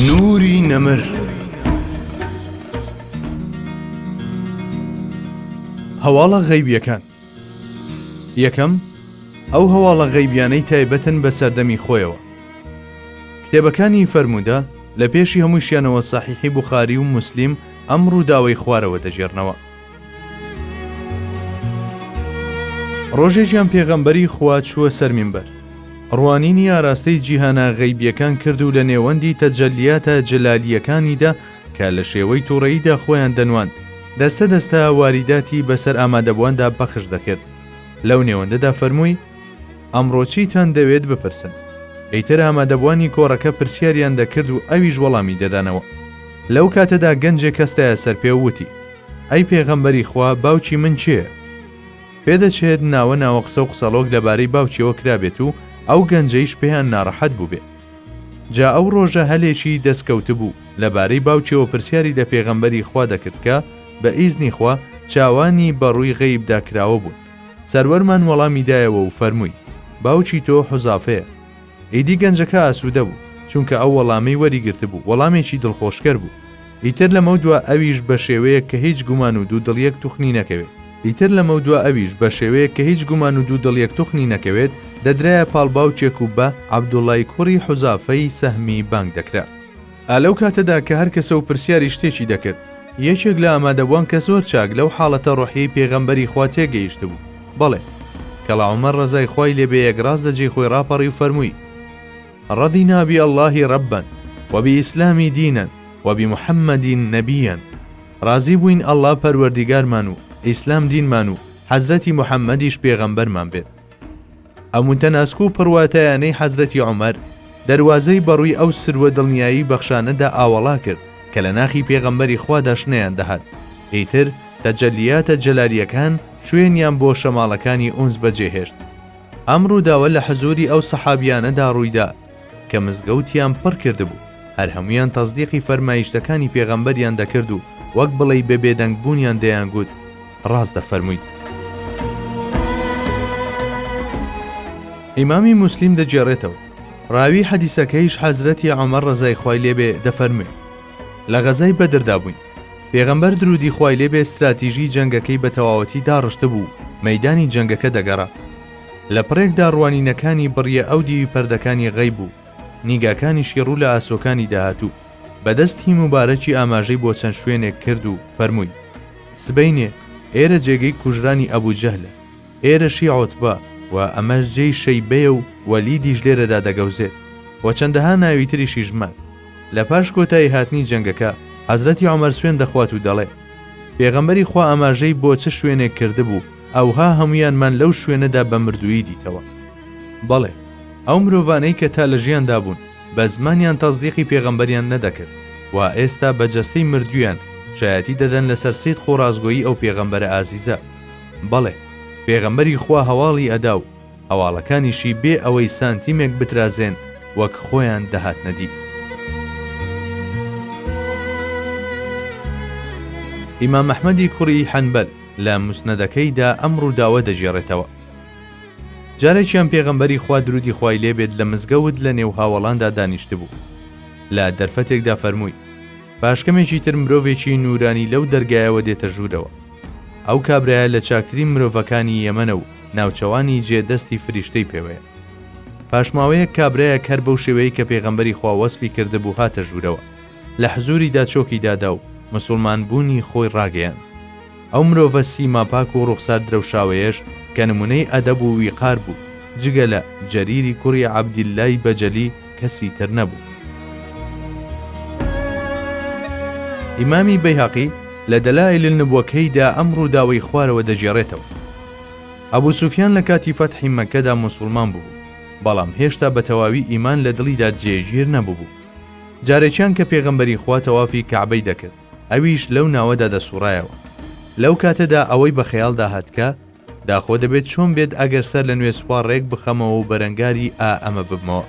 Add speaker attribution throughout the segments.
Speaker 1: نوری نەمر هەواڵە غەیبیەکان یەکەم ئەو هەواڵە غەیبیانەی تایبەتن بە سەردەمی خۆیەوە کتێبەکانی فەرموودە لە پێشی هەمووشیانەوە سەحیحی بخاری و موسلیم ئەم ڕووداوەی خوارەوە دەگێرنەوە ڕۆژێکیان پێغەمبەری خوا چووە سەر مینبەر ڕوانینی ئاراستەی جیهانە غەیبیەکان کرد و لە نێوەندی تەجەلیاتە جەلالییەکانیدا کە لە شێوەی تووڕەییدا خۆیان دەنواند دەستە دەستە واریداتی بەسەر ئامادەبوواندا پەخش دەکرد لەو نێوەندەدا فەرمووی ئەمڕۆ چیتان دەوێت بپرسن؟ ئیتر ئامادەبووانی کۆڕەکە پرسیاریان دەکرد و ئەویش وەڵامی دەدانەوە. لەو کاتەدا گەنجێک هەستایە سەر پێ و وتی، ئەی پێغەمبەری خوا، باوکی من کێیە؟ پێدەچێت ناوە ناوە قسە و قسەڵۆک لەبارەی باوکیەوە کرابێت و ئەو گەنجەیش پێیان ناڕەحەت بووبێ. جا ئەو ڕۆژە هەلێکی دەست کەوتبوو، لەبارەی باوکیەوە پرسیاری لە پێغەمبەری خوا دەکرد کە، بە ئیزنی خوا، چاوانی بە ڕووی غەیبدا کراوە بوون. سەروەرمان وەڵامی دایەوە و فەرمووی، باوکی تۆ حوزافەیە. ئیدی گەنجەکە ئاسوودە بوو، چونکە ئەو وەڵامەی وەریگرتبوو وەڵامێکی دڵخۆشکەر بوو. ئیتر لەمەودوا ئەویش بە شێوەیەک کە هیچ گومان و دوودڵیەک توخنی نەکەوێت، ئیتر لەمەودوا ئەویش بە شێوەیەک کە هیچ گومان و دوودڵیەک توخنی نەکەوێت، دەدرایە پاڵ باوکێک و بە، عەبدوڵڵای کوڕی حوزافەی سەهمی، بانگ دەکرا. ئا لەو کاتەدا کە هەر کەسە و پرسیاری شتێکی دەکرد، یەکێک لە ئامادەبووان کە زۆر چاک لەو حاڵەتە ڕۆحیەی پێغەمبەری خوا تێگەیشتبوو، بەڵێ، کەڵا عومەر ڕەزای خوای لێ بێ یەکڕاست لە جێی خۆی ڕاپەڕی و فەرمووی، ڕەضینا بی اللە ربا و بی اسلام دینا و بی محمد نبیا، ڕازی بووین ئەڵڵا پەروەردیگارمان و ئیسلام دینمان و حەزرەتی محەممەدیش پێغەمبەرمان بێت. ئەم تەناسک و پڕواتایانەی حەزرەتی عومەر، دەروازەی بەڕووی ئەو سرو و دڵنیایی بەخشانەدا ئاوەڵا کرد کە لە ناخی پێغەمبەری خوادا شنەیان دەهات، ئیتر تەجەلیاتە جەلالیەکان شوێنیان بۆ شەماڵەکانی ئونس بەجێهێشت. ئەم ڕووداوە لە حزووری ئەو سەحابیانەدا ڕوویدا، کە مزگەوتیان پڕ کردبوو، هەر هەموویان تەسدیقی فەرمایشتەکانی پێغەمبەریان دەکرد و وەک بڵێی بە بێدەنگ بوونیان دەیانگوت، ڕاست دەفەرموویت. ئیمامی موسلیم دەگێڕێتەوە، ڕاوی حەدیسەکەیش حەزرەتی عومەر ڕەزای خوای لێ بێ دەفەرموێ، لە غەزای بەدردا بووین، پێغەمبەر درودی خوای لێ بێ ستراتیژی جەنگەکەی بە تەواوەتی داڕشتبوو و مەیدانی جەنگەکە دەگەڕا، لە پڕێکدا ڕوانینەکانی بڕیە ئەو دیوی پەردەکانی غەیب و نیگاکانیشی ڕوو لە ئاسۆکانی داهاتوو بە دەست هی موبارەکی ئاماژەی بۆ چەند شوێنێک کرد و فەرمووی، سبەینێ ئێرە جێگەی کوژرانی ئەبوو جەهلە، ئێرەشی عوتبە و ئەمەش جێی شەیبەیە و وەلیدیش لێرەدا دەگەوزێت و چەندەها ناوی تریشیش مان. لە پاش کۆتایی هاتنی جەنگەکە حەزرەتی عومەر سوێند دەخوات و دەڵێ، پێغەمبەری خوا ئاماژەی بۆ چ شوێنێک کردبوو، ئەوها هەموویانمان لەو شوێنەدا بە مردوویی دیتەوە. بەڵێ، ئەو مرۆڤانەی کە تا لە ژیاندا بوون، بە زمانیان تەسدیقی پێغەمبەریان نەدەکرد، کوا ئێستا بە جەستەی مردوویان شایەتی دەدەن لەسەر سیدق و ڕاستگۆیی ئەو پێغەمبەرە ئازیزە؟ بەڵێ، پێغەمبەری خوا هەواڵی ئەدا و هەواڵەکانیشی بێ ئەوەی سانتیمێک بترازێن وەک خۆیان دەهاتنە دی. ئیمام ئەحمەدی کوڕی حەنبەل، لە موسنەدەکەی دا ئەم ڕووداوە دەگێڕێتەوە، جارێکیان پێغەمبەری خوا دروودی خوای لێ بێت لە مزگەوت لە نێو هاوەڵاندا دانیشتبوو، لە دەرفەتێکدا فەرمووی، پاشکەمێکی تر مرۆڤێکی نوورانی لەو دەرگایەوە دێتە ژوورەوە، ئەو کابرایە لە چاکترین مرۆڤەکانی یەمەنە و ناوچەوانی جێ دەستی فریشتەی پێوەیە. پاشماوەیەک کابرایەک هەر بەو شێوەیەی کە پێغەمبەری خوا وەسفی کردبوو هاتە ژوورەوە. لە حزووریدا چۆکی دادا و مسوڵمان بوونی خۆی ڕاگەیاند. ئەو مرۆڤە سیما پاک و ڕوخسار درەوشاوەیەش کە نموونەی ئەدەب و ویقار بوو، جگە لە، جەریری کوڕی عەبدیللای بەجەلی، کەسی تر نەبوو. ئیمامی بەیهەقی لە دەلائیل النبوەکەیدا ئەم ڕووداوەی خوارەوە دەگێڕێتەوە، ئەبوو سوفیان لە کاتی فەتحی مەککەدا موسوڵمان ببوو، بەڵام هێشتا بە تەواوی ئیمان لە دڵیدا جێگیر نەببوو، جارێکیان کە پێغەمبەری خوا تەوافی کەعبەی دەکرد ئەویش لەو ناوەدا دەسوڕایەوە لەو کاتەدا ئەوەی بە خەیاڵدا هاتکە داخۆ دەبێت چۆن بێت ئەگەر سەر لە نوێ سوپا ڕێک بخەمەوە و بەرەنگاری ئا ئەمە ببمەوە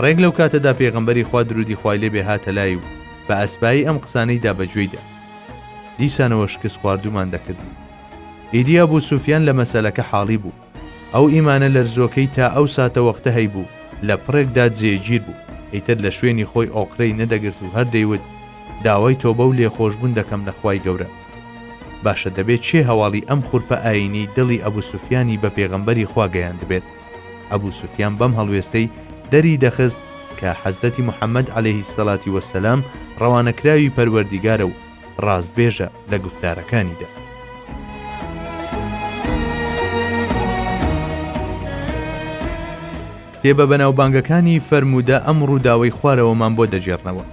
Speaker 1: ڕێک لەو کاتەدا پێغەمبەری خوا درودی خوای لێ بێ هاتە لای و بە ئەسپایی ئەم قسانەی دا بەگوێیدا دیسانەوە شکست خواردومان دەکردی ئیدی ئەبوو سوفیان لە مەسەلەکە حاڵی بوو ئەو ئیمانە لەرزۆکەی تا ئەو ساتەوەختە هەیبوو، لە پڕێکدا جێگیر بوو، ئیتر لە شوێنی خۆی ئۆقرەی نەدەگرت و هەر دەیوت، داوای تۆبە و لێخۆشبوون دەکەم لە خوای گەورە. باشە دەبێ کێ هەواڵی ئەم خورپە ئایینیەی دڵی ئەبو سوفیانی بە پێغەمبەری خوا گەیاندبێت؟ ئەبو سوفیان بەم هەڵوێستەی دەری دەخست کە حەزرەتی محەمەد عەلەیهی سەلاتی وەسەلام ڕەوانەکراوی پەروەردیگارە و ڕاستبێژە لە گوفتارەکانیدا. کتێبە بەناوبانگەکانی فەرموودە ئەم ڕووداوەی خوارەوەمان بۆ دەگێڕنەوە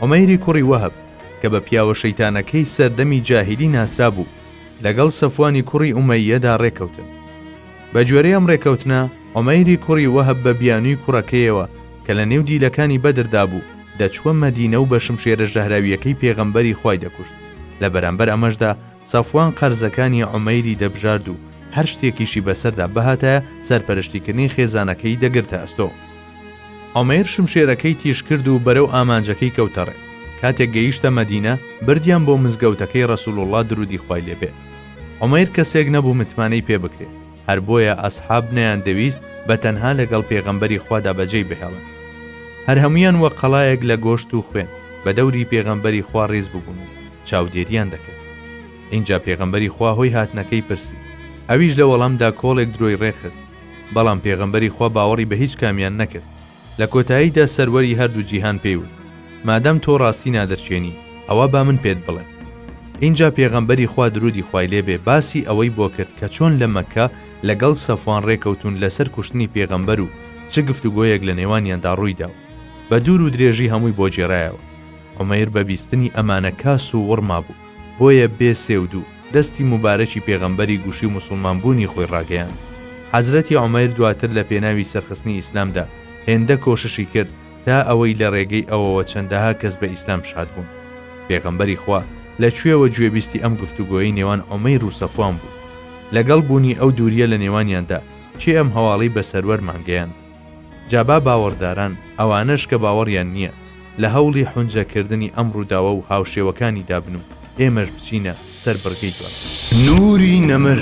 Speaker 1: ئۆمەیری کوڕی وەهب کە بە پیاوە شەیتانەکەی سەردەمی جاهیلی ناسرا بوو لەگەڵ سەفوانی کوڕی ئومەیەدا ڕێکەوتن بە گوێرەی ئەم ڕێکەوتنە، عومەیری کوڕی وەهب بە بیانووی کوڕەکەیەوە کە لە نێو دیلەکانی بەدردا بوو، دەچووە مەدینە و بە شمشێرە ژەهراوییەکەی پێغەمبەری خوای دەکوشت، لە بەرامبەر ئەمەشدا سەفوان قەرزەکانی عومەیری دەبژارد و هەر شتێکیشی بەسەردا بهاتایە سەرپەرشتیکردنی خێزانەکەی دەگرتە ئەستۆ. عومەیر شمشێرەکەی تیژ کرد و بەرەو ئامانجەکەی کەوتە ڕێ، کاتێک گەیشتە مەدینە، بردیان بۆ مزگەوتەکەی ڕەسووڵڵا دروودی خوای لێ بێ، عومەیر کەسێک نەبوو متمانەی پێ بکرێ، هەر بۆیە ئەسحاب نەیاندەویست بە تەنها لەگەڵ پێغەمبەری خوادا بەجێی بهێڵن. هەر هەموویان وەک قەڵایەک لە گۆشت و خوێن، بە دەوری پێغەمبەری خوا ڕیز ببوون و چاودێرییان دەکرد. ئینجا پێغەمبەری خوا هۆی هاتنەکەی پرسی. ئەویش لە وەڵامدا کۆڵێک درۆی ڕێکخست. بەڵام پێغەمبەری خوا باوەڕی بە هیچ کامیان نەکرد. لە کۆتاییدا سەروەری هەردوو جیهان پێی وت، مادام تۆ ڕاستی نادەرچێنی، ئەوا با من پێت بڵێم. ئینجا پێغەمبەری خوا درودی خوای لێ بێ باسی ئەوەی بۆ کرد کە چۆن لە مەککە لە گەڵ سەفوان ڕێکەوتوون لە سەر کوشتنی پێغەمبەر و چ گفتوگۆیەک لە نێوانیاندا ڕوویدا و بە دوور و درێژی هەمووی بۆ گێرایەوە. عومەیر بە بیستنی ئەمانە کاس و وڕما بوو. بۆیە بێ سێ و دوو دەستی موبارەکی پێغەمبەری گوشی و موسڵمان بوونی خۆی ڕاگەیاند. حەزرەتی عومەیر دواتر لە پێناوی سەرخستنی ئیسلامدا هێندە کۆششی کرد تا ئەوەی لە ڕێگەی ئەوەوە چەندەها کەس بە ئیسلام شاد بوون. پێغەمبەری خوا لە کوێوە گوێبیستی ئەم گفتوگۆیەی نێوان عومەیر و سەفوان بوو؟ لەگەڵ بوونی ئەو دوورییە لە نێوانیاندا کێ ئەم هەواڵەی بە سەروەرمان گەیاند؟ جا با باوەڕداران، ئەوانەش کە باوەڕیان نییە، لە هەوڵی حونجە کردنی ئەم ڕووداوە و هاوشێوەکانیدا بن و ئێمەش بچینە سەر بڕگەی دواتر. نوری نەمر.